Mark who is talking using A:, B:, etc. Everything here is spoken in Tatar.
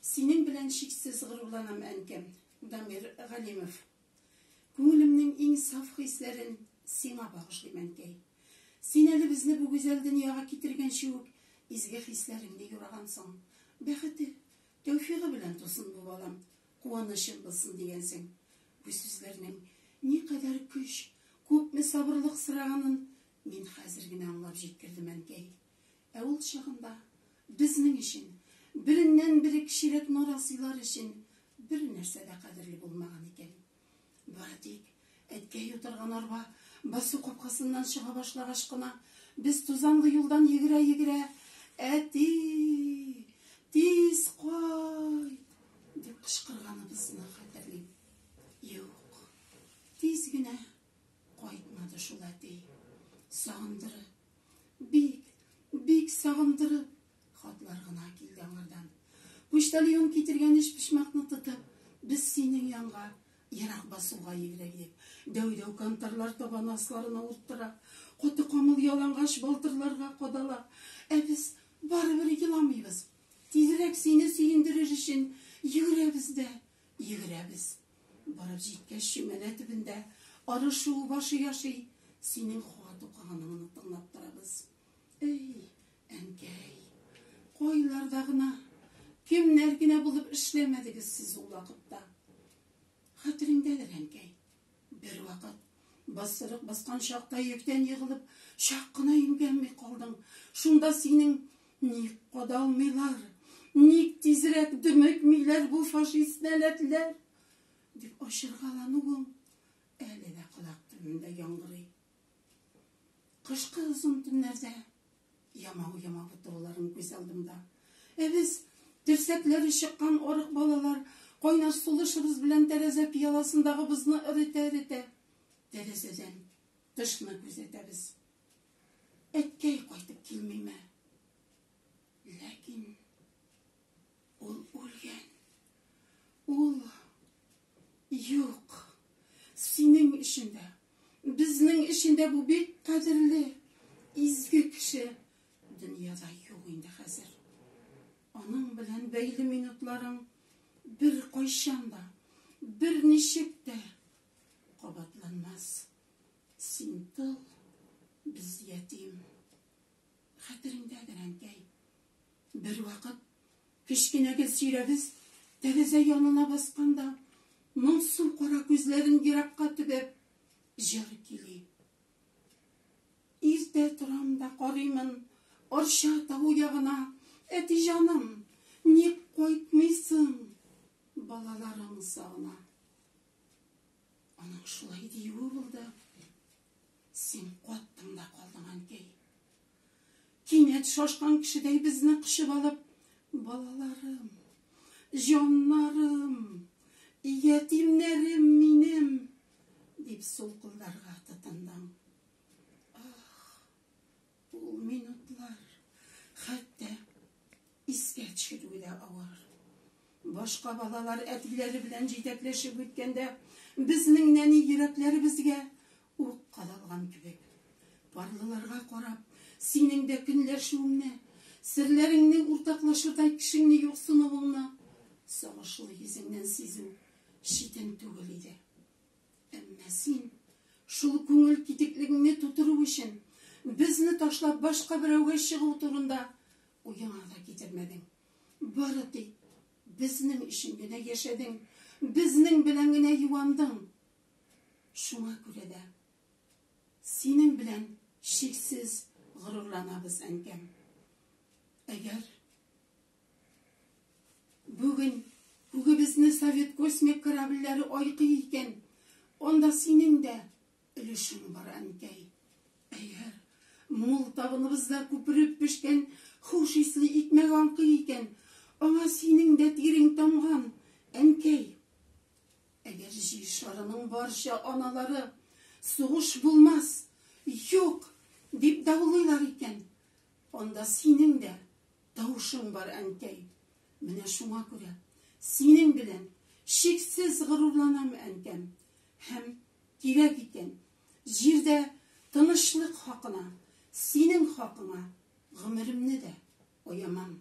A: Синең белән чиксез горурланам, әнкәм. Дамир Галимов. Күңелемнең иң саф хисләрен сиңа багышлыйм, әнкәй. Син әле безне бу гүзәл дөньяга китергәнче үк изге хисләреңне юрагансың. Бәхете, тәүфигы белән тусын бу балам, куанычың булсын, дигәнсең. Бу сүзләрнең никадәр көч, күпме сабырлык сораганын мин хәзер генә аңлап җиткердем, әнкәй. Ә ул чагында безнең өчен, береннән-бери кешелек нарасыйлар өчен бернәрсә дә кадерле булмаган икән. Бары тик әткәй утырган арба басу капкасыннан чыга башлагач кына, без тузанлы юлдан йөгерә-йөгерә, Әти, тиз кайт! дип кычкырганыбызны хәтерлим. Юк, тиз генә кайтмады шул әти. Сагындырып, Бик, бик сагындырып хатлар гына килде аңардан. Почтальон китергән өчпочмакны тотып, без синең янга ерак басуга йөгерә идек. Дәү-дәү кантарлар табаны асларына урттыра, каты камыл ялангач балтырларга кадала. Ә без барыбер еламыйбыз. Тизрәк сине сөендерер өчен йөгерәбез дә Йөгерәбез. Барып җиткәч, чүмәлә төбендә Арыш шуыбашы яши. Синең хат укыганың тыңлап торабыз. Эй, әнкәй, кайларда гына, кемнәр генә булып эшләмәдегез сез ул вакытта. Хәтереңдәдер, әнкәй, Бервакыт, бассырык баскан чакта йөктән егылып, чак кына имгәнми калдың. Шунда синең, Ник кадалмыйлар? Ник тизрәк дөмекмиләр бу фашист нәләтләр? дип ачыргалануың әле дә колак төбемдә яңгырый. Кышкы озын төннәрдә ямау ямап утыруларын күз алдымда. Ә без, терсәкләре чыккан арык балалар, кайнар сулышыбыз белән тәрәзә пияласындагы бозны эретә-эретә, тәрәзәдән тышны күзәтәбез. Әткәй кайтып килмиме? Ләкин Ул үлгән. Ул юк. Синең өчен дә, безнең өчен дә бу бик кадерле, изге кеше дөньяда юк инде хәзер. Аның белән бәйле минутларың бер кайчан да, бер ничек тә кабатланмас. Син тол, без ятим. Хәтереңдәдер, әнкәй, бервакыт кечкенә гел сөйрәбез тәрәзә янына басканда, моңсу кара күзләрен еракка төбәп, җыр кили. Иртә торам да карыймын Арча тавы ягына, Әти җаным, ник кайтмыйсың, балаларың сагына. Аның шулай диюе булды. Син каттың да калдың, әнкәй. Кинәт шашкан кешедәй безне кочып алып, балаларым, җаннарым, ятимнәрем минем, дип сулкылдарга тотындың. Ах, Ул минутлар хәтта искә төшерүе дә авыр. Башка балалар әтиләре белән җитәкләшеп үткәндә, безнең нәни йөрәкләребезгә ук кадалган кебек. Парлыларга карап, синең дә көнләшүеңне, серләреңне уртаклашырдай кешеңне юксынуыңны сагышлы йөзеңнән сизү читен түгел иде. Әмма син, шул күңел китеклегеңне тутыру өчен, безне ташлап башка берәүгә чыгу турында уеңа да китермәдең. Бары тик безнең өчен генә яшәдең, безнең белән генә юандың. Шуңа күрә дә синең белән чиксез горурланабыз, әнкәм. Әгәр Бүген күгебезне совет космик корабльләре айкый икән, анда синең дә өлешең бар, әнкәй. Әйе, мул табыныбызда күпереп пешкән хуш исле икмәк аңкый икән, аңа синең дә тирең тамган, әнкәй. Әгәр җир шарының барча аналары сугыш булмас, юк, дип даулыйлар икән, анда синең дә тавышың бар, әнкәй. Менә шуңа күрә синең белән чиксез горурланам, әнкәм. Һәм, кирәк икән, җирдә тынычлык хакына, синең хакыңа гомеремне дә аямам.